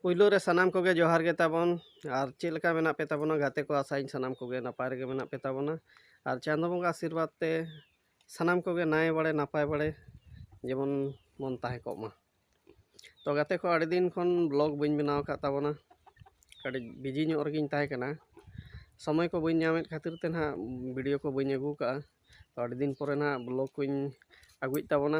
ᱯᱩᱭᱞᱩ ᱨᱮ ᱥᱟᱱᱟᱢ ᱠᱚᱜᱮ ᱡᱚᱦᱟᱨ ᱜᱮ ᱛᱟᱵᱚᱱ ᱟᱨ ᱪᱮᱫ ᱞᱮᱠᱟ ᱢᱮᱱᱟᱜ ᱯᱮ ᱛᱟᱵᱚᱱᱟ ᱜᱟᱛᱮ ᱠᱚ ᱟᱥᱟᱭᱟᱹᱧ ᱥᱟᱱᱟᱢ ᱠᱚᱜᱮ ᱱᱟᱯᱟᱭ ᱨᱮᱜᱮ ᱢᱮᱱᱟᱜ ᱯᱮ ᱛᱟᱵᱚᱱᱟ ᱟᱨ ᱪᱟᱸᱫᱚ ᱵᱚᱸᱜᱟ ᱟᱥᱤᱨᱵᱟᱫᱽ ᱛᱮ ᱥᱟᱱᱟᱢ ᱠᱚᱜᱮ ᱱᱟᱭ ᱵᱟᱲᱮ ᱱᱟᱯᱟᱭ ᱵᱟᱲᱮ ᱡᱮᱢᱚᱱ ᱵᱚᱱ ᱛᱟᱦᱮᱸ ᱠᱚᱜ ᱢᱟ ᱛᱚ ᱜᱟᱛᱮ ᱠᱚ ᱟᱹᱰᱤ ᱫᱤᱱ ᱠᱷᱚᱱ ᱵᱞᱚᱜ ᱵᱟᱹᱧ ᱵᱮᱱᱟᱣ ᱟᱠᱟᱫ ᱛᱟᱵᱚᱱᱟ ᱠᱟᱹᱴᱤᱡ ᱵᱤᱡᱤ ᱧᱚᱜ ᱨᱮᱜᱮᱧ ᱛᱟᱦᱮᱸ ᱠᱟᱱᱟ ᱥᱚᱢᱚᱭ ᱠᱚ ᱵᱟᱹᱧ ᱧᱟᱢᱮᱫ ᱠᱷᱟᱹᱛᱤᱨ ᱛᱮ ᱱᱟᱦᱟᱜ ᱵᱷᱤᱰᱤᱭᱳ ᱠᱚ ᱵᱟᱹᱧ ᱟᱹᱜᱩ ᱠᱟᱜᱼᱟ ᱛᱚ ᱟᱹᱰᱤ ᱫᱤᱱ ᱯᱚᱨᱮ ᱱᱟᱦᱟᱜ ᱵᱞᱚᱜ ᱠᱚᱧ ᱟᱹᱜᱩᱭᱮᱫ ᱛᱟᱵᱚᱱᱟ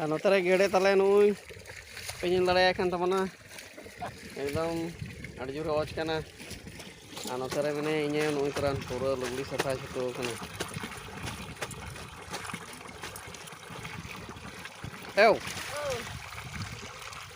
ᱟᱨ ᱱᱚᱛᱮ ᱨᱮ ᱜᱮᱰᱮ ᱛᱟᱞᱮ ᱱᱩᱭ ᱯᱮ ᱧᱮᱞ ᱫᱟᱲᱮᱭᱟᱭ ᱠᱟᱱ ᱛᱟᱵᱚᱱᱟ ᱮᱠᱫᱚᱢ ᱟᱹᱰᱤ ᱡᱳᱨ ᱚᱡᱽ ᱠᱟᱱᱟ ᱟᱨ ᱱᱚᱛᱮ ᱨᱮ ᱢᱮᱱᱟᱭᱟ ᱤᱧᱮ ᱱᱩᱭ ᱛᱚᱨᱟᱱ ᱯᱩᱨᱟᱹ ᱞᱩᱜᱽᱲᱤ ᱥᱟᱯᱷᱟᱭ ᱪᱷᱩᱴᱟᱹᱣ ᱠᱟᱱᱟ ᱮᱣ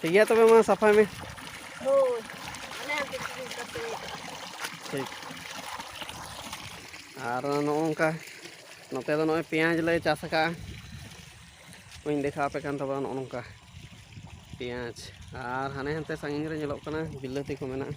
ᱴᱷᱤᱠ ᱜᱮᱭᱟ ᱛᱚᱵᱮ ᱢᱟ ᱥᱟᱯᱷᱟᱭ ᱢᱮ ᱦᱳᱭ ᱴᱷᱤᱠ ᱟᱨ ᱱᱚᱜᱼᱚ ᱱᱚᱝᱠᱟ ᱱᱚᱛᱮ ᱫᱚ ᱱᱚᱜᱼᱚᱭ ᱯᱮᱸᱭᱟᱡᱽ ᱞᱮ ᱪᱟᱥ ᱟᱠᱟᱫᱼᱟ ᱵᱟᱹᱧ ᱫᱮᱠᱷᱟᱣ ᱟᱯᱮ ᱠᱟᱱ ᱛᱟᱵᱚᱱᱟ ᱱᱚᱜᱼᱚ ᱱᱚᱝᱠᱟ ᱯᱮᱸᱭᱟᱡᱽ ᱟᱨ ᱦᱟᱱᱮ ᱦᱟᱱᱛᱮ ᱥᱟᱺᱜᱤᱧ ᱨᱮ ᱧᱮᱞᱚᱜ ᱠᱟᱱᱟ ᱵᱤᱞᱟᱹᱛᱤ ᱠᱚ ᱢᱮᱱᱟᱜᱼᱟ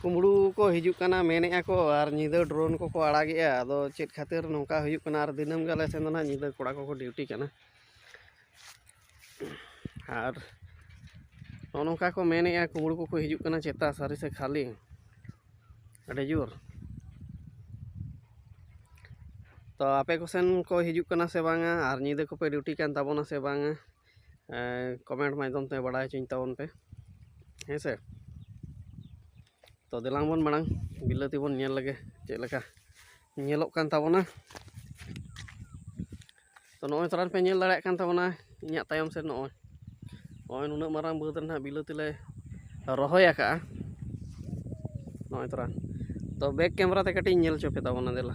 ᱠᱩᱢᱵᱽᱲᱩ ᱠᱚ ᱦᱤᱡᱩᱜ ᱠᱟᱱᱟ ᱢᱮᱱᱮᱜᱼᱟ ᱠᱚ ᱟᱨ ᱧᱤᱫᱟᱹ ᱰᱨᱳᱱ ᱠᱚᱠᱚ ᱟᱲᱟᱜᱮᱜᱼᱟ ᱟᱫᱚ ᱪᱮᱫ ᱠᱷᱟᱹᱛᱤᱨ ᱱᱚᱝᱠᱟ ᱦᱩᱭᱩᱜ ᱠᱟᱱᱟ ᱟᱨ ᱫᱤᱱᱟᱹᱢ ᱜᱮ ᱟᱞᱮ ᱥᱮᱱ ᱫᱚ ᱱᱟᱦᱟᱜ ᱧᱤᱫᱟᱹ ᱠᱚᱲᱟ ᱠᱚᱠᱚ ᱰᱤᱭᱩᱴᱤ ᱠᱟᱱᱟ ᱟᱨ ᱱᱚᱜᱼᱚ ᱱᱚᱝᱠᱟ ᱠᱚ ᱢᱮᱱᱮᱜᱼᱟ ᱠᱩᱢᱵᱽᱲᱩ ᱠᱚᱠᱚ ᱦᱤᱡᱩᱜ ᱠᱟᱱᱟ ᱪᱮᱛᱟ ᱥᱟᱹᱨᱤ ᱥᱮ ᱠᱷᱟᱹᱞᱤ ᱟᱹᱰᱤ ᱡᱳᱨ ᱛᱚ ᱟᱯᱮ ᱠᱚᱥᱮᱱ ᱠᱚ ᱦᱤᱡᱩᱜ ᱠᱟᱱᱟ ᱥᱮ ᱵᱟᱝᱟ ᱟᱨ ᱧᱤᱫᱟᱹ ᱠᱚᱯᱮ ᱰᱤᱭᱩᱴᱤ ᱠᱟᱱ ᱛᱟᱵᱚᱱᱟ ᱥᱮ ᱵᱟᱝᱟ ᱠᱚᱢᱮᱱᱴ ᱢᱟᱫᱽᱫᱷᱚᱢ ᱛᱮ ᱵᱟᱲᱟᱭ ᱦᱚᱪᱚᱧ ᱛᱟᱵᱚᱱ ᱯᱮ ᱦᱮᱸ ᱥᱮ ᱛᱚ ᱫᱮᱞᱟᱝ ᱵᱚᱱ ᱢᱟᱲᱟᱝ ᱵᱤᱞᱟᱹᱛᱤ ᱵᱚᱱ ᱧᱮᱞ ᱞᱮᱜᱮ ᱪᱮᱫ ᱞᱮᱠᱟ ᱧᱮᱞᱚᱜ ᱠᱟᱱ ᱛᱟᱵᱚᱱᱟ ᱛᱚ ᱱᱚᱜᱼᱚᱭ ᱛᱚᱨᱟ ᱯᱮ ᱧᱮᱞ ᱫᱟᱲᱮᱭᱟᱜ ᱠᱟᱱ ᱛᱟᱵᱚᱱᱟ ᱤᱧᱟᱹᱜ ᱛᱟᱭᱚᱢ ᱥᱮᱫ ᱱᱚᱜᱼᱚᱭ ᱱᱚᱜᱼᱚᱭ ᱱᱩᱱᱟᱹᱜ ᱢᱟᱨᱟᱝ ᱵᱟᱹᱫᱽ ᱨᱮᱱᱟᱜ ᱵᱤᱞᱟᱹᱛᱤ ᱞᱮ ᱨᱚᱦᱚᱭ ᱟᱠᱟᱜᱼᱟ ᱱᱚᱜᱼᱚᱭ ᱛᱚᱨᱟ ᱛᱚ ᱵᱮᱠ ᱠᱮᱢᱮᱨᱟ ᱛᱮ ᱠᱟᱹᱴᱤᱡ ᱧᱮᱞ ᱦᱚᱪᱚ ᱯᱮ ᱛᱟᱵᱚᱱᱟ ᱫᱮᱞᱟ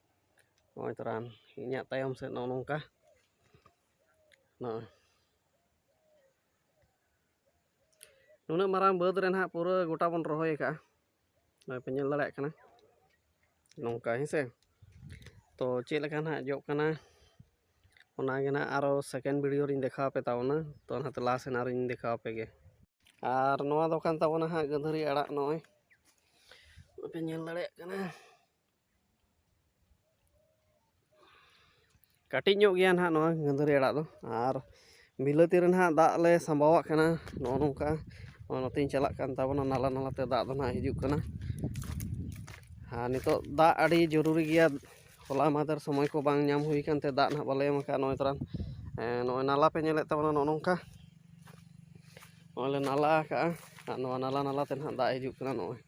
ᱱᱚᱜᱼᱚᱭ ᱛᱚᱨᱟᱱ ᱤᱧᱟᱹᱜ ᱛᱟᱭᱚᱢ ᱥᱮᱫ ᱱᱚᱜᱼᱚ ᱱᱚᱝᱠᱟ ᱱᱚᱜᱼᱚᱭ ᱱᱩᱱᱟᱹᱜ ᱢᱟᱨᱟᱝ ᱵᱟᱹᱫᱽ ᱨᱮ ᱱᱟᱦᱟᱜ ᱯᱩᱨᱟᱹ ᱜᱚᱴᱟ ᱵᱚᱱ ᱨᱚᱦᱚᱭ ᱟᱠᱟᱜᱼᱟ ᱱᱚᱜᱼᱚᱭ ᱯᱮ ᱧᱮᱞ ᱫᱟᱲᱮᱭᱟᱜ ᱠᱟᱱᱟ ᱱᱚᱝᱠᱟ ᱦᱮᱸ ᱥᱮ ᱛᱚ ᱪᱮᱫ ᱞᱮᱠᱟ ᱱᱟᱦᱟᱜ ᱡᱚᱜ ᱠᱟᱱᱟ ᱚᱱᱟᱜᱮ ᱱᱟᱦᱟᱜ ᱟᱨᱚ ᱥᱮᱠᱮᱱᱰ ᱵᱷᱤᱰᱤᱭᱳ ᱨᱤᱧ ᱫᱮᱠᱷᱟᱣ ᱟᱯᱮ ᱛᱟᱵᱚᱱᱟ ᱛᱚ ᱚᱱᱟᱛᱮ ᱞᱟᱦᱟ ᱥᱮᱱ ᱟᱨᱚᱧ ᱫᱮᱠᱷᱟᱣ ᱟᱯᱮ ᱜᱮ ᱟᱨ ᱱᱚᱣᱟ ᱫᱚ ᱠᱟᱱ ᱛᱟᱵᱚᱱᱟ ᱦᱟᱸᱜ ᱜᱟᱹᱫᱷᱟᱹᱨᱤ ᱟᱲᱟᱜ ᱱᱚᱜᱼᱚᱭ ᱯᱮ ᱧᱮᱞ ᱫᱟᱲᱮᱭᱟᱜ ᱠᱟᱱᱟ ᱠᱟᱹᱴᱤᱡ ᱧᱚᱜ ᱜᱮᱭᱟ ᱱᱟᱦᱟᱜ ᱱᱚᱣᱟ ᱜᱟᱹᱫᱷᱟᱹᱨᱤ ᱟᱲᱟᱜ ᱫᱚ ᱟᱨ ᱵᱤᱞᱟᱹᱛᱤ ᱨᱮ ᱱᱟᱦᱟᱜ ᱫᱟᱜ ᱞᱮ ᱥᱟᱸᱵᱟᱣᱟᱜ ᱠᱟᱱᱟ ᱱᱚᱜᱼᱚ ᱱᱚᱝᱠᱟ ᱱᱚᱛᱮᱧ ᱪᱟᱞᱟᱜ ᱠᱟᱱ ᱛᱟᱵᱚᱱᱟ ᱱᱟᱞᱟ ᱱᱟᱞᱟᱛᱮ ᱫᱟᱜ ᱫᱚ ᱱᱟᱦᱟᱜ ᱦᱤᱡᱩᱜ ᱠᱟᱱᱟ ᱟᱨ ᱱᱤᱛᱚᱜ ᱫᱟᱜ ᱟᱹᱰᱤ ᱡᱚᱨᱩᱨᱤ ᱜᱮᱭᱟ ᱦᱚᱞᱟ ᱢᱟᱫᱷᱮᱨ ᱥᱚᱢᱚᱭ ᱠᱚ ᱵᱟᱝ ᱧᱟᱢ ᱦᱩᱭ ᱠᱟᱱᱛᱮ ᱫᱟᱜ ᱱᱟᱦᱟᱜ ᱵᱟᱞᱮ ᱮᱢ ᱠᱟᱜᱼᱟ ᱱᱚᱜᱼᱚᱭ ᱛᱚᱨᱟᱝ ᱱᱚᱜᱼᱚᱭ ᱱᱟᱞᱟ ᱯᱮ ᱧᱮᱞᱮᱫ ᱛᱟᱵᱚᱱᱟ ᱱᱚᱜᱼᱚ ᱱᱚᱝᱠᱟ ᱱᱚᱜᱼᱚᱭ ᱞᱮ ᱱᱟᱞᱟ ᱠᱟᱜᱼᱟ ᱟᱨ ᱱᱚᱣᱟ ᱱᱟᱞᱟ ᱱᱟᱞᱟᱛᱮ ᱱᱟᱦᱟᱜ ᱫᱟᱜ ᱦᱤᱡᱩᱜ ᱠᱟᱱᱟ ᱱᱚᱜᱼᱚᱭ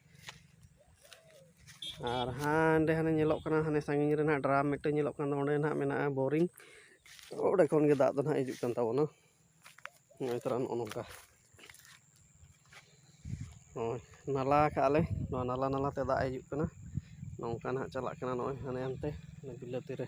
ᱟᱨ ᱦᱟᱸᱰᱮ ᱦᱟᱱᱮ ᱧᱮᱞᱚᱜ ᱠᱟᱱᱟ ᱦᱟᱱᱮ ᱥᱟᱺᱜᱤᱧ ᱨᱮ ᱱᱟᱦᱟᱜ ᱰᱨᱟᱢ ᱢᱤᱫᱴᱮᱱ ᱧᱮᱞᱚᱜ ᱠᱟᱱ ᱫᱚ ᱚᱸᱰᱮ ᱱᱟᱦᱟᱜ ᱢᱮᱱᱟᱜᱼᱟ ᱵᱳᱨᱤᱝ ᱚᱸᱰᱮ ᱠᱷᱚᱱ ᱜᱮ ᱫᱟᱜ ᱫᱚ ᱱᱟᱦᱟᱜ ᱦᱤᱡᱩᱜ ᱠᱟᱱ ᱛᱟᱵᱚᱱᱟ ᱱᱚᱜᱼᱚᱭ ᱛᱚᱨᱟ ᱱᱚᱜᱼᱚ ᱱᱚᱝᱠᱟ ᱱᱚᱜᱼᱚᱭ ᱱᱟᱞᱟ ᱠᱟᱜᱼᱟ ᱞᱮ ᱱᱚᱣᱟ ᱱᱟᱞᱟ ᱱᱟᱞᱟ ᱛᱮ ᱫᱟᱜ ᱦᱤᱡᱩᱜ ᱠᱟᱱᱟ ᱱᱚᱝᱠᱟ ᱱᱟᱦᱟᱜ ᱪᱟᱞᱟᱜ ᱠᱟᱱᱟ ᱱᱚᱜᱼᱚᱭ ᱦᱟᱱᱮ ᱦᱟᱱᱛᱮ ᱵᱤᱞᱟᱹᱛᱤ ᱨᱮ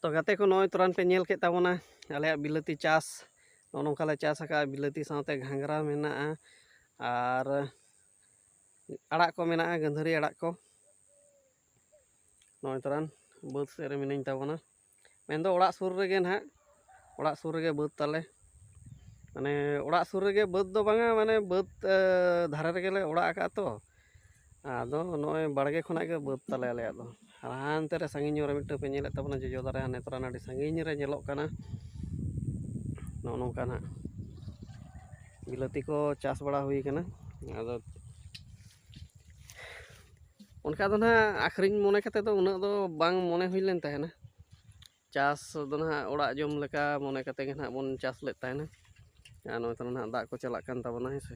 ᱛᱚ ᱜᱟᱛᱮ ᱠᱚ ᱱᱚᱜᱼᱚᱭ ᱛᱚᱨᱟᱱ ᱯᱮ ᱧᱮᱞ ᱠᱮᱫ ᱛᱟᱵᱚᱱᱟ ᱟᱞᱮᱭᱟᱜ ᱵᱤᱞᱟᱹᱛᱤ ᱪᱟᱥ ᱱᱚᱜᱼᱚ ᱱᱚᱝᱠᱟ ᱞᱮ ᱪᱟᱥ ᱟᱠᱟᱫᱼᱟ ᱵᱤᱞᱟᱹᱛᱤ ᱥᱟᱶᱛᱮ ᱜᱷᱟᱸᱜᱽᱨᱟ ᱢᱮᱱᱟᱜᱼᱟ ᱟᱨ ᱟᱲᱟᱜ ᱠᱚ ᱢᱮᱱᱟᱜᱼᱟ ᱜᱟᱹᱫᱷᱟᱹᱨᱤ ᱟᱲᱟᱜ ᱠᱚ ᱱᱚᱜᱼᱚᱭ ᱛᱚᱨᱟᱱ ᱵᱟᱹᱫᱽ ᱥᱮᱫ ᱨᱮ ᱢᱤᱱᱟᱹᱧ ᱛᱟᱵᱚᱱᱟ ᱢᱮᱱᱫᱚ ᱚᱲᱟᱜ ᱥᱩᱨ ᱨᱮᱜᱮ ᱱᱟᱦᱟᱜ ᱚᱲᱟᱜ ᱥᱩᱨ ᱨᱮᱜᱮ ᱵᱟᱹᱫᱽ ᱛᱟᱞᱮ ᱢᱟᱱᱮ ᱚᱲᱟᱜ ᱥᱩᱨ ᱨᱮᱜᱮ ᱵᱟᱹᱫᱽ ᱫᱚ ᱵᱟᱝᱟ ᱢᱟᱱᱮ ᱵᱟᱹᱫᱽ ᱫᱷᱟᱨᱮ ᱨᱮᱜᱮᱞᱮ ᱚᱲᱟᱜ ᱟᱠᱟᱫᱼᱟ ᱛᱚ ᱟᱫᱚ ᱱᱚᱜᱼᱚᱭ ᱵᱟᱲᱜᱮ ᱠᱷᱚᱱᱟᱜ ᱜᱮ ᱵᱟᱹᱫᱽ ᱛᱟᱞᱮ ᱟᱞᱮᱭᱟᱜ ᱫᱚ ᱟᱨ ᱦᱟᱱᱛᱮ ᱨᱮ ᱥᱟᱺᱜᱤᱧ ᱧᱚᱜ ᱨᱮ ᱢᱤᱫᱴᱟᱹᱝ ᱯᱮ ᱧᱮᱞᱮᱫ ᱛᱟᱵᱚᱱᱟ ᱡᱚᱡᱚ ᱫᱟᱨᱮ ᱦᱟᱱᱮ ᱛᱚᱨᱟ ᱟᱹᱰᱤ ᱥᱟᱺᱜᱤᱧ ᱨᱮ ᱧᱮᱞᱚᱜ ᱠᱟᱱᱟ ᱱᱚᱜᱼᱚ ᱱᱚᱝᱠᱟ ᱱᱟᱜ ᱵᱤᱞᱟᱹᱛᱤ ᱠᱚ ᱪᱟᱥ ᱵᱟᱲᱟ ᱦᱩᱭ ᱠᱟᱱᱟ ᱟᱫᱚ ᱚᱱᱠᱟ ᱫᱚ ᱱᱟᱜ ᱟᱹᱠᱷᱨᱤᱧ ᱢᱚᱱᱮ ᱠᱟᱛᱮᱫ ᱫᱚ ᱩᱱᱟᱹᱜ ᱫᱚ ᱵᱟᱝ ᱢᱚᱱᱮ ᱦᱩᱭ ᱞᱮᱱ ᱛᱟᱦᱮᱱᱟ ᱪᱟᱥ ᱫᱚ ᱱᱟᱦᱟᱜ ᱚᱲᱟᱜ ᱡᱚᱢ ᱞᱮᱠᱟ ᱢᱚᱱᱮ ᱠᱟᱛᱮ ᱜᱮ ᱱᱟᱦᱟᱜ ᱵᱚᱱ ᱪᱟᱥ ᱞᱮᱫ ᱛᱟᱦᱮᱱᱟ ᱟᱨ ᱱᱚᱜᱼᱚᱭ ᱛᱚᱨᱟ ᱱᱟᱦᱟᱜ ᱫᱟᱜ ᱠᱚ ᱪᱟᱞᱟᱜ ᱠᱟᱱ ᱛᱟᱵᱚᱱᱟ ᱦᱮᱸ ᱥᱮ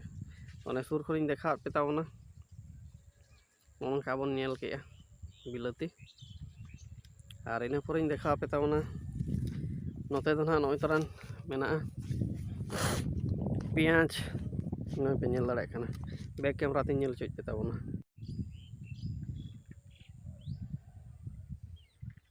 ᱚᱱᱮ ᱥᱩᱨ ᱠᱷᱚᱱᱤᱧ ᱫᱮᱠᱷᱟᱣᱟᱫ ᱯᱮ ᱛᱟᱵᱚᱱᱟ ᱱᱚᱜᱼᱚ ᱱᱚᱝᱠᱟ ᱵᱚᱱ ᱧᱮᱞ ᱠᱮᱜᱼᱟ ᱵᱤᱞᱟᱹᱛᱤ ᱟᱨ ᱤᱱᱟᱹ ᱯᱚᱨᱮᱧ ᱫᱮᱠᱷᱟᱣ ᱯᱮ ᱛᱟᱵᱚᱱᱟ ᱱᱚᱛᱮ ᱫᱚ ᱱᱟᱦᱟᱜ ᱱᱚᱜᱼᱚᱭ ᱛᱚᱨᱟᱱ ᱢᱮᱱᱟᱜᱼᱟ ᱯᱮᱸᱭᱟᱡᱽ ᱱᱚᱜᱼᱚᱭ ᱯᱮ ᱧᱮᱞ ᱫᱟᱲᱮᱭᱟᱜ ᱠᱟᱱᱟ ᱵᱮᱠ ᱠᱮᱢᱮᱨᱟ ᱛᱮᱧ ᱧᱮᱞ ᱦᱚᱪᱚᱭᱮᱫ ᱯᱮ ᱛᱟᱵᱚᱱᱟ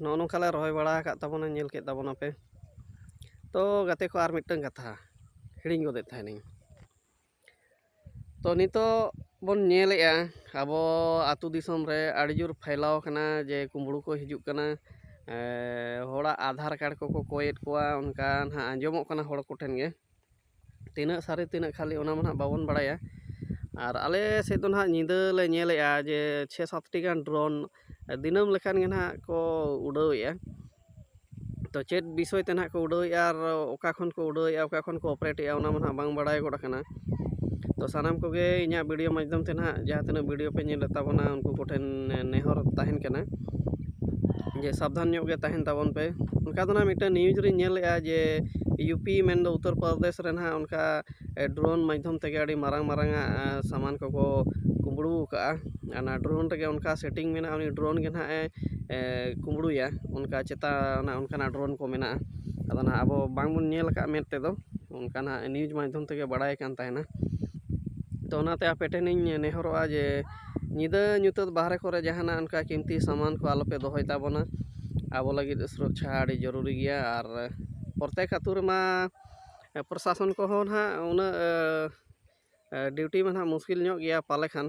ᱱᱚᱜᱼᱚ ᱱᱚᱝᱠᱟ ᱞᱮ ᱨᱚᱦᱚᱭ ᱵᱟᱲᱟ ᱟᱠᱟᱫ ᱛᱟᱵᱚᱱᱟ ᱧᱮᱞ ᱠᱮᱫ ᱛᱟᱵᱚᱱᱟ ᱯᱮ ᱛᱚ ᱜᱟᱛᱮ ᱠᱚ ᱟᱨ ᱢᱤᱫᱴᱟᱝ ᱠᱟᱛᱷᱟ ᱦᱤᱲᱤᱧ ᱜᱚᱫᱮᱫ ᱛᱟᱦᱮᱱᱤᱧ ᱛᱚ ᱱᱤᱛᱚᱜ ᱵᱚᱱ ᱧᱮᱞᱮᱜᱼᱟ ᱟᱵᱚ ᱟᱛᱳ ᱫᱤᱥᱚᱢ ᱨᱮ ᱟᱹᱰᱤ ᱡᱳᱨ ᱯᱷᱟᱭᱞᱟᱣ ᱠᱟᱱᱟ ᱡᱮ ᱠᱩᱢᱵᱽᱲᱩ ᱠᱚ ᱦᱤᱡᱩᱜ ᱠᱟᱱᱟ ᱦᱚᱲᱟᱜ ᱟᱫᱷᱟᱨ ᱠᱟᱨᱰ ᱠᱚᱠᱚ ᱠᱚᱭᱮᱫ ᱠᱚᱣᱟ ᱚᱱᱠᱟ ᱱᱟᱦᱟᱜ ᱟᱸᱡᱚᱢᱚᱜ ᱠᱟᱱᱟ ᱦᱚᱲ ᱠᱚᱴᱷᱮᱱ ᱜᱮ ᱛᱤᱱᱟᱹᱜ ᱥᱟᱹᱨᱤ ᱛᱤᱱᱟᱹᱜ ᱠᱷᱟᱹᱞᱤ ᱚᱱᱟ ᱢᱟ ᱱᱟᱦᱟᱜ ᱵᱟᱵᱚᱱ ᱵᱟᱲᱟᱭᱟ ᱟᱨ ᱟᱞᱮ ᱥᱮᱫ ᱫᱚ ᱱᱟᱦᱟᱜ ᱧᱤᱫᱟᱹ ᱞᱮ ᱧᱮᱞᱮᱜᱼᱟ ᱡᱮ ᱪᱷᱮ ᱥᱟᱛᱴᱤ ᱜᱟᱱ ᱰᱨᱳᱱ ᱫᱤᱱᱟᱹᱢ ᱞᱮᱠᱟᱱ ᱜᱮ ᱱᱟᱦᱟᱜ ᱠᱚ ᱩᱰᱟᱹᱣᱮᱜᱼᱟ ᱛᱚ ᱪᱮᱫ ᱵᱤᱥᱚᱭ ᱛᱮ ᱱᱟᱦᱟᱜ ᱠᱚ ᱩᱰᱟᱹᱣᱮᱜᱼᱟ ᱟᱨ ᱚᱠᱟ ᱠᱷᱚᱱ ᱠᱚ ᱩᱰᱟᱹᱣᱮᱜᱼᱟ ᱚᱠᱟ ᱠᱷᱚᱱ ᱠᱚ ᱚᱯᱟᱨᱮᱴᱮᱜᱼᱟ ᱚᱱᱟ ᱢᱟ ᱱᱟᱦᱟᱜ ᱵᱟᱝ ᱵᱟᱲᱟᱭ ᱜᱚᱫ ᱠᱟᱱᱟ ᱛᱚ ᱥᱟᱱᱟᱢ ᱠᱚᱜᱮ ᱤᱧᱟᱹᱜ ᱵᱷᱤᱰᱤᱭᱳ ᱢᱟᱫᱽᱫᱷᱚᱢ ᱛᱮ ᱱᱟᱦᱟᱜ ᱡᱟᱦᱟᱸ ᱛᱤᱱᱟᱹᱜ ᱵᱷᱤᱰᱤᱭᱳ ᱯᱮ ᱧᱮᱞᱮᱫ ᱛᱟᱵᱚᱱᱟ ᱩᱱᱠᱩ ᱠᱚᱴᱷᱮᱱ ᱱᱮᱦᱚᱨ ᱛᱟᱦᱮᱱ ᱠᱟᱱᱟ ᱡᱮ ᱥᱟᱵᱫᱷᱟᱱ ᱧᱚᱜ ᱜᱮ ᱛᱟᱦᱮᱱ ᱛᱟᱵᱚᱱ ᱯᱮ ᱚᱱᱠᱟ ᱫᱚ ᱱᱟᱜ ᱢᱤᱫᱴᱟᱱ ᱱᱤᱭᱩᱡᱽ ᱨᱮᱧ ᱧᱮᱞ ᱞᱮᱜᱼᱟ ᱡᱮ ᱤᱭᱩ ᱯᱤ ᱢᱮᱱ ᱫᱚ ᱩᱛᱛᱚᱨ ᱯᱨᱚᱫᱮᱥ ᱨᱮ ᱱᱟᱜ ᱚᱱᱠᱟ ᱰᱨᱳᱱ ᱢᱟᱫᱽᱫᱷᱚᱢ ᱛᱮᱜᱮ ᱟᱹᱰᱤ ᱢᱟᱨᱟᱝ ᱢᱟᱨᱟᱝ ᱟᱜ ᱥᱟᱢᱟᱱ ᱠᱚᱠᱚ ᱠᱩᱢᱵᱽᱲᱩ ᱠᱟᱜᱼᱟ ᱟᱨ ᱚᱱᱟ ᱰᱨᱳᱱ ᱨᱮᱜᱮ ᱚᱱᱠᱟ ᱥᱮᱴᱤᱝ ᱢᱮᱱᱟᱜᱼᱟ ᱩᱱᱤ ᱰᱨᱳᱱ ᱜᱮ ᱱᱟᱜ ᱮ ᱠᱩᱢᱵᱽᱲᱩᱭᱟ ᱚᱱᱠᱟ ᱪᱮᱛᱟ ᱚᱱᱮ ᱚᱱᱠᱟᱱᱟᱜ ᱰᱨᱳᱱ ᱠᱚ ᱢᱮᱱᱟᱜᱼᱟ ᱟᱫᱚ ᱱᱟᱜ ᱟᱵᱚ ᱵᱟᱝ ᱵᱚᱱ ᱧᱮᱞ ᱠᱟᱜᱼᱟ ᱢᱮᱫ ᱛᱮᱫᱚ ᱚᱱᱠᱟ ᱱᱟᱜ ᱱᱤᱭᱩᱡᱽ ᱢᱟᱫᱽᱫᱷᱚᱢ ᱛᱮᱜᱮ ᱵᱟᱲᱟᱭ ᱠᱟᱱ ᱛᱟᱦᱮᱱᱟ ᱛᱚ ᱚᱱᱟᱛᱮ ᱟᱯᱮ ᱴᱷᱮᱱᱤᱧ ᱱᱮᱦᱚᱨᱚᱜᱼᱟ ᱡᱮ ᱧᱤᱫᱟᱹ ᱧᱩᱛᱟᱹᱛ ᱵᱟᱦᱨᱮ ᱠᱚᱨᱮ ᱡᱟᱦᱟᱱᱟᱜ ᱚᱱᱠᱟ ᱠᱤᱢᱛᱤ ᱥᱟᱢᱟᱱ ᱠᱚ ᱟᱞᱚᱯᱮ ᱫᱚᱦᱚᱭ ᱛᱟᱵᱚᱱᱟ ᱟᱵᱚ ᱞᱟᱹᱜᱤᱫ ᱥᱩᱨᱚᱠᱠᱷᱟ ᱟᱹᱰᱤ ᱡᱟᱹᱨᱩᱨᱤ ᱜᱮᱭᱟ ᱟᱨ ᱯᱨᱚᱛᱮᱠ ᱟᱹᱛᱩ ᱨᱮᱢᱟ ᱯᱨᱚᱥᱟᱥᱚᱱ ᱠᱚᱦᱚᱸ ᱱᱟᱦᱟᱜ ᱩᱱᱟᱹᱜ ᱰᱤᱭᱩᱴᱤ ᱢᱟ ᱱᱟᱦᱟᱜ ᱢᱩᱥᱠᱤᱞ ᱧᱚᱜ ᱜᱮᱭᱟ ᱯᱟᱞᱮ ᱠᱷᱟᱱ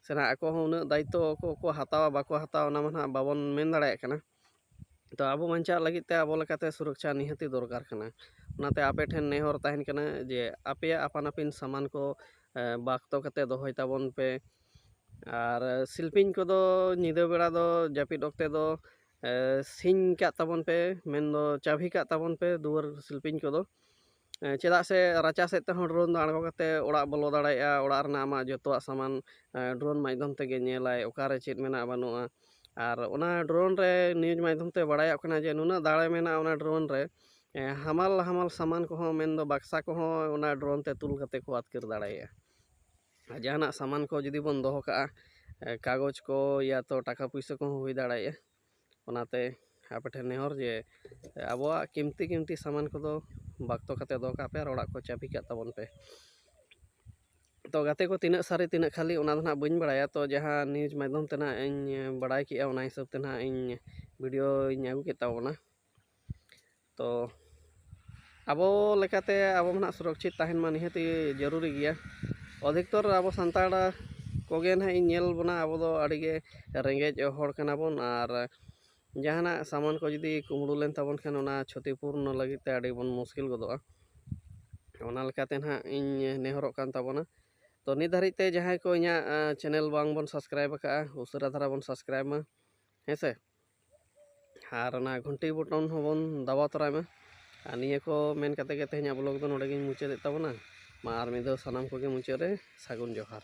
ᱥᱮ ᱱᱟᱦᱟᱜ ᱟᱠᱚ ᱦᱚᱸ ᱩᱱᱟᱹᱜ ᱫᱟᱭᱤᱛᱛᱚ ᱠᱚ ᱦᱟᱛᱟᱣᱟ ᱵᱟᱠᱚ ᱦᱟᱛᱟᱣᱟ ᱚᱱᱟ ᱢᱟ ᱱᱟᱦᱟᱜ ᱵᱟᱵᱚᱱ ᱢᱮᱱ ᱫᱟᱲᱮᱭᱟᱜ ᱠᱟᱱᱟ ᱛᱚ ᱟᱵᱚ ᱵᱟᱧᱪᱟᱜ ᱞᱟᱹᱜᱤᱫ ᱛᱮ ᱟᱵᱚ ᱞᱮᱠᱟᱛᱮ ᱥᱩᱨᱚᱠᱪᱷᱟ ᱱᱤᱦᱟᱹᱛᱤ ᱫᱚᱨᱠᱟᱨ ᱠᱟᱱᱟ ᱚᱱᱟᱛᱮ ᱟᱯᱮ ᱴᱷᱮᱱ ᱱᱮᱦᱚᱨ ᱛᱟᱦᱮᱱ ᱠᱟᱱᱟ ᱡᱮ ᱟᱯᱮᱭᱟᱜ ᱟᱯᱟᱱ ᱟᱹᱯᱤᱱ ᱥᱟᱢᱟᱱ ᱠᱚ ᱵᱟᱠᱛᱚ ᱠᱟᱛᱮᱫ ᱫᱚᱦᱚᱭ ᱛᱟᱵᱚᱱ ᱯᱮ ᱟᱨ ᱥᱤᱞᱯᱤᱧ ᱠᱚᱫᱚ ᱧᱤᱫᱟᱹ ᱵᱮᱲᱟ ᱫᱚ ᱡᱟᱹᱯᱤᱫ ᱚᱠᱛᱮ ᱫᱚ ᱥᱤᱧ ᱠᱟᱜ ᱛᱟᱵᱚᱱ ᱯᱮ ᱢᱮᱱᱫᱚ ᱪᱟᱹᱵᱷᱤ ᱠᱟᱜ ᱛᱟᱵᱚᱱ ᱯᱮ ᱫᱩᱣᱟᱹᱨ ᱥᱤᱞᱯᱤᱧ ᱠᱚᱫᱚ ᱪᱮᱫᱟᱜ ᱥᱮ ᱨᱟᱪᱟ ᱥᱮᱫ ᱛᱮᱦᱚᱸ ᱰᱨᱳᱱ ᱫᱚ ᱟᱬᱜᱚ ᱠᱟᱛᱮᱫ ᱚᱲᱟᱜ ᱵᱚᱞᱚ ᱫᱟᱲᱮᱭᱟᱜᱼᱟ ᱚᱲᱟᱜ ᱨᱮᱱᱟᱜ ᱟᱢᱟᱜ ᱡᱚᱛᱚᱣᱟᱜ ᱥᱟᱢᱟᱱ ᱰᱨᱳᱱ ᱢᱟᱫᱽᱫᱷᱚᱢ ᱛᱮᱜᱮ ᱧᱮᱞᱟᱭ ᱚᱠᱟᱨᱮ ᱪᱮᱫ ᱢᱮᱱᱟᱜᱼᱟ ᱵᱟᱹᱱᱩᱜᱼᱟ ᱟᱨ ᱚᱱᱟ ᱰᱨᱳᱱ ᱨᱮ ᱱᱤᱭᱩᱡᱽ ᱢᱟᱫᱽᱫᱷᱚᱢ ᱛᱮ ᱵᱟᱲᱟᱭᱚᱜ ᱠᱟᱱᱟ ᱡᱮ ᱱᱩᱱᱟᱹᱜ ᱫᱟᱲᱮ ᱢᱮᱱᱟᱜᱼᱟ ᱚᱱᱟ ᱰᱨᱳᱱ ᱨᱮ ᱦᱟᱢᱟᱞ ᱦᱟᱢᱟᱞ ᱥᱟᱢᱟᱱ ᱠᱚᱦᱚᱸ ᱢᱮᱱ ᱫᱚ ᱵᱟᱠᱥᱟ ᱠᱚᱦᱚᱸ ᱚᱱᱟ ᱰᱨᱳᱱ ᱛᱮ ᱛᱩᱞ ᱠᱟᱛᱮᱫ ᱠᱚ ᱟᱹᱛᱠᱤᱨ ᱫᱟᱲᱮᱭᱟᱜᱼᱟ ᱟᱨ ᱡᱟᱦᱟᱱᱟᱜ ᱥᱟᱢᱟᱱ ᱠᱚ ᱡᱩᱫᱤ ᱵᱚᱱ ᱫᱚᱦᱚ ᱠᱟᱜᱼᱟ ᱠᱟᱜᱚᱡᱽ ᱠᱚ ᱤᱭᱟᱛᱚ ᱴᱟᱠᱟ ᱯᱩᱭᱥᱟᱹ ᱠᱚᱦᱚᱸ ᱦᱩᱭ ᱫᱟᱲᱮᱭᱟᱜᱼᱟ ᱚᱱᱟᱛᱮ ᱟᱯᱮ ᱴᱷᱮᱱ ᱱᱮᱦᱚᱨ ᱡᱮ ᱟᱵᱚᱣᱟᱜ ᱠᱤᱢᱛᱤ ᱠᱤᱢᱛᱤ ᱥᱟᱢᱟᱱ ᱠᱚᱫᱚ ᱵᱟᱠᱛᱚ ᱠᱟᱛᱮᱫ ᱫᱚᱦᱚ ᱠᱟᱜ ᱯᱮ ᱟᱨ ᱚᱲᱟᱜ ᱠᱚ ᱪᱟᱹᱵᱤ ᱠᱟᱜ ᱛᱟᱵᱚᱱ ᱯᱮ ᱛᱚ ᱜᱟᱛᱮ ᱠᱚ ᱛᱤᱱᱟᱹᱜ ᱥᱟᱹᱨᱤ ᱛᱤᱱᱟᱹᱜ ᱠᱷᱟᱹᱞᱤ ᱚᱱᱟ ᱫᱚ ᱦᱟᱸᱜ ᱵᱟᱹᱧ ᱵᱟᱲᱟᱭᱟ ᱛᱚ ᱡᱟᱦᱟᱸ ᱱᱤᱭᱩᱡᱽ ᱢᱟᱫᱽᱫᱷᱚᱢ ᱛᱮ ᱦᱟᱸᱜ ᱤᱧ ᱵᱟᱲᱟᱭ ᱠᱮᱜᱼᱟ ᱚᱱᱟ ᱦᱤᱥᱟᱹᱵ ᱛᱮ ᱦᱟᱸᱜ ᱤᱧ ᱵᱷᱤᱰᱤᱭᱳᱧ ᱟᱹᱜᱩ ᱠᱮᱫ ᱛᱟᱵᱚᱱᱟ ᱛᱚ ᱟᱵᱚ ᱞᱮᱠᱟᱛᱮ ᱟᱵᱚ ᱢᱟ ᱱᱟᱦᱟᱜ ᱥᱩᱨᱚᱠᱪᱷᱤᱛ ᱛᱟᱦᱮᱱ ᱢᱟ ᱱᱤᱦᱟᱹᱛᱤ ᱡᱟᱹᱨᱩᱨᱤ ᱜᱮᱭᱟ ᱚᱫᱷᱤᱠᱛᱚᱨ ᱟᱵᱚ ᱥᱟᱱᱛᱟᱲ ᱠᱚᱜᱮ ᱱᱟᱦᱟᱜ ᱤᱧ ᱧᱮᱞ ᱵᱚᱱᱟ ᱟᱵᱚ ᱫᱚ ᱟᱹᱰᱤ ᱜᱮ ᱨᱮᱸᱜᱮᱡ ᱦᱚᱲ ᱠᱟᱱᱟ ᱵᱚᱱ ᱟᱨ ᱡᱟᱦᱟᱱᱟᱜ ᱥᱟᱢᱟᱱ ᱠᱚ ᱡᱩᱫᱤ ᱠᱩᱢᱵᱽᱲᱩ ᱞᱮᱱ ᱛᱟᱵᱚᱱ ᱠᱷᱟᱱ ᱚᱱᱟ ᱪᱷᱚᱛᱤ ᱯᱩᱨᱱᱚ ᱞᱟᱹᱜᱤᱫ ᱛᱮ ᱟᱹᱰᱤ ᱵᱚᱱ ᱢᱩᱥᱠᱤᱞ ᱜᱚᱫᱚᱜᱼᱟ ᱚᱱᱟ ᱞᱮᱠᱟᱛᱮ ᱱᱟᱦᱟᱜ ᱤᱧ ᱱᱮᱦᱚᱨᱚᱜ ᱠᱟᱱ ᱛᱟᱵᱚᱱᱟ ᱛᱚ ᱱᱤᱛ ᱫᱷᱟᱹᱨᱤᱡ ᱛᱮ ᱡᱟᱦᱟᱸᱭ ᱠᱚ ᱤᱧᱟᱹᱜ ᱪᱮᱱᱮᱞ ᱵᱟᱝ ᱵᱚᱱ ᱥᱟᱵᱥᱠᱨᱟᱭᱤᱵᱽ ᱠᱟᱜᱼᱟ ᱩᱥᱟᱹᱨᱟ ᱫᱷᱟᱨᱟ ᱵᱚᱱ ᱥᱟᱵᱥᱠᱨᱟᱭᱤᱵᱽ ᱢᱟ ᱦᱮᱸ ᱥᱮ ᱟᱨ ᱚᱱᱟ ᱜᱷᱩᱱᱴᱤ ᱵᱚᱴᱚᱱ ᱦᱚᱸᱵᱚᱱ ᱫᱟᱵᱟᱣ ᱛᱚᱨᱟᱭ ᱢᱟ ᱟᱨ ᱱᱤᱭᱟᱹ ᱠᱚ ᱢᱮᱱ ᱠᱟᱛᱮ ᱜᱮ ᱛᱮᱦᱮᱧᱟᱜ ᱵᱞᱚᱜᱽ ᱫᱚ ᱱᱚᱰᱮ ᱜᱤᱧ ᱢᱩᱪᱟᱹᱫᱮᱫ ᱛᱟᱵᱚᱱᱟ ᱢᱟ ᱟᱨ ᱢᱤᱫ ᱫᱷᱟᱣ ᱥᱟᱱᱟᱢ ᱠᱚᱜᱮ ᱢᱩᱪᱟᱹᱫ ᱨᱮ ᱥᱟᱹᱜᱩᱱ ᱡᱚᱦᱟᱨ